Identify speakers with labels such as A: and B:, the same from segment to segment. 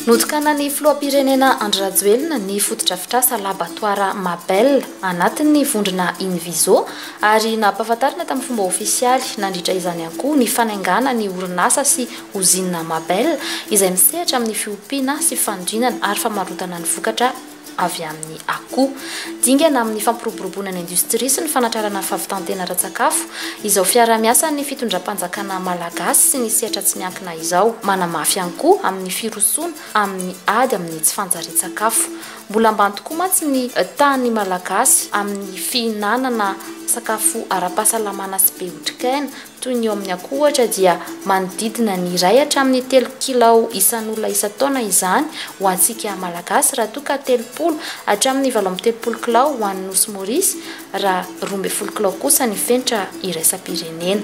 A: Notokanan'ny filoham-pirenena Andry Rajoelina ny fotodrafitrasa labatoara Mabel anatin'ny vondrona Inviso ary nampahafantarina tamin'ny fomba ofisialy nandritra izany ihany koa ny fanaingana ny orinasa sy ozinina Mabel izay misehatra amin'ny fiompiana sy fanodinana ary famarotana ny vokatra avy amin'ny akoho. Dingana amin'ny fampiroboroboana ny indostria sy ny fanatrarana fahavitan-tena ara-tsakafo izao fiaraha-miasan'ny fitondram-panjakana malagasy sy ny sehatra tsy miankina izao. Manamafy ihany koa amin'ny firosoana amin'ny ady amin'ny tsy fanjarian-tsakafo. Mbola ambany tokoa mantsy ny tahan'ny Malagasy amin'ny fihinanana sakafo ara-pahasalamana sy be otrikaina, toy ny eo amin'ny akoho ohatra, dia manodidina ny iray hatramin'ny telo kilao isan'olona isan-taona izany ho antsika Malagasy, raha toa ka telopolo hatramin'ny valo amby telopolo kilao ho an'ny Nosy Maurice, raha roa ambin'ny folo kilao kosa ny fenitra iraisam-pirenena.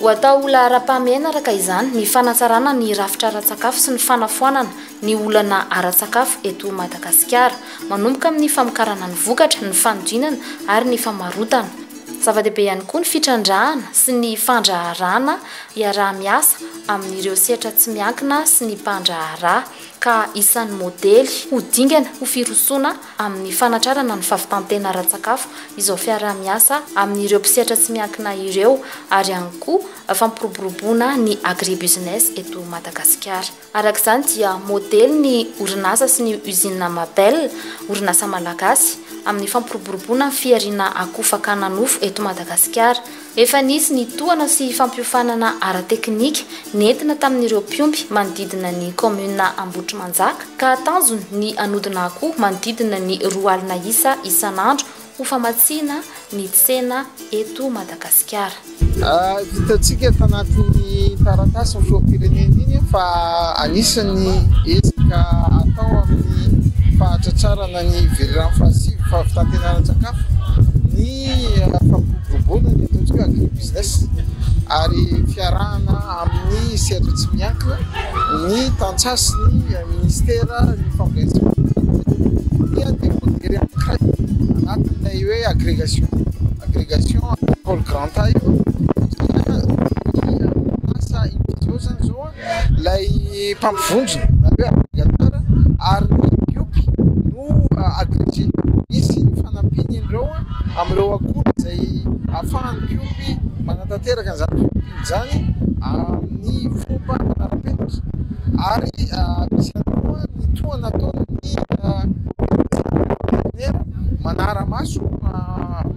A: Ho atao ho laharam-pahamehana araka izany ny fanatsarana ny rafitra ara-tsakafo sy ny fanafoanana ny olana ara-tsakafo eto Madagasikara, manomboka amin'ny famokarana ny vokatra, ny fanodinana ary ny famarotana. Zava-dehibe ihany koa ny fitrandrahana sy ny fandraharahana iaraha-miasa amin'ireo sehatra tsy miankina sy ny mpandraharaha, ka isan'ny modely ho dingana ho firosoana amin'ny fanatrarana ny fahavitan-tena ara-tsakafo izao fiaraha-miasa amin'ireo mpisehatra tsy miankina ireo ary ihany koa fampiroboroboana ny agribusiness eto Madagasikara. Araka izany dia modely ny orinasa sy ny usine Mabel, orinasa malagasy, amin'ny fampiroboroboana ny fihariana akoho fakana nofo eto Madagasikara. Efa nisy ny tohana sy fampiofanana ara-teknika nentina tamin'ireo mpiompy manodidina ny kaominina Ambohitrimanjaka ka tanjony ny hanodina akoho manodidina ny roa alina isa isan'andro ho famatsiana ny tsena eto Madagasikara.
B: Hitantsika eto anatin'iny taratasin'ny filoham-pirenena iny fa anisan'ny ezaka atao amin'ny fahatratrarana ny velirano fahasivy, fahavitantena-ara-tsakafo, ny fampiroboroboana ny ataontsika hoe agri-business ary fiarahana amin'ny sehatra tsy miankina, ny tantsaha sy ny minisitera ny fampielezam-baovao dia dia voatery hankay anatin'ilay hoe agrégation agrégation pôle grand A io satria ny orinasa Inviziô izany izao ilay mpampivondrona na hoe agrégateur ary ny BIOPI no agrégé, misy ny fanampiany ireo amin'ireo akora izay ahafahan'ny BIOPI manatanteraka an'izany. izany amin'ny fomba ara-penitra ary misy ihany koa ny tohana ataon'ny Veterinera manara-maso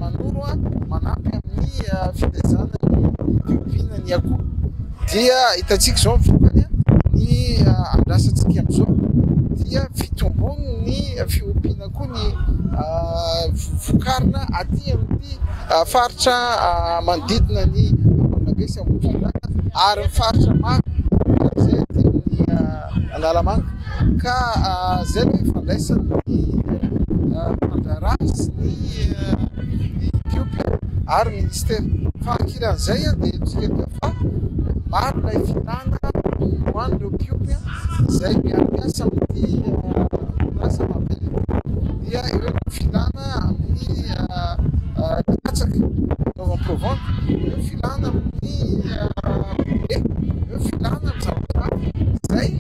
B: manoro manampy amin'ny filezana ny fiompiana ny akoho dia hitantsika izao ny vokany ny andrasantsika amin'izao dia fitomboan'ny fiompiana. koa ny vokarina aty amin'ity faritra manodidina ny Ambohimanga sy Ambohidratrimo ary ny faritra maro izay aty amin'ny Analamanga ka izay no ifandraisan'ny mpandraharaha sy ny Ethiopia ary ny Minisitera. Fa ankilan'izay dia fa maro ilay filàna ho an'ireo mpiompy izay miara-miasa amin'ity orinasa maventy ity, dia eo ny filàna amin'ny katsaka fitaovana pro-vente, eo filàna amin'ny roue, eo filàna amin'ny zavatra hafa izay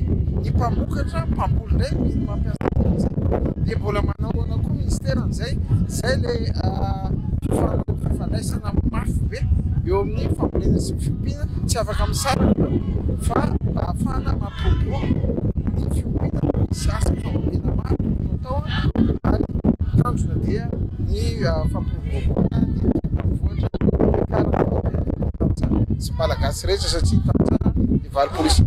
B: ny mpamokatra, mpamboly indray no mila mampiasa an'izany dia mbola manao ahoana koa ny minisitera amin'izay? izay ilay fifaranan'ny fifandraisana mafy be eo amin'ny fambolena sy ny fiompiana, tsy afaka misaraka fa mba hahafahana mampiroborobo ny fiompiana no misy asa fambolena maro no atao ary tanjona dia ny fampiroboroboana ny renivohitra Manakara sy Malagasy rehetra satria tantsaha ny valopolo isanjaton'ny taona.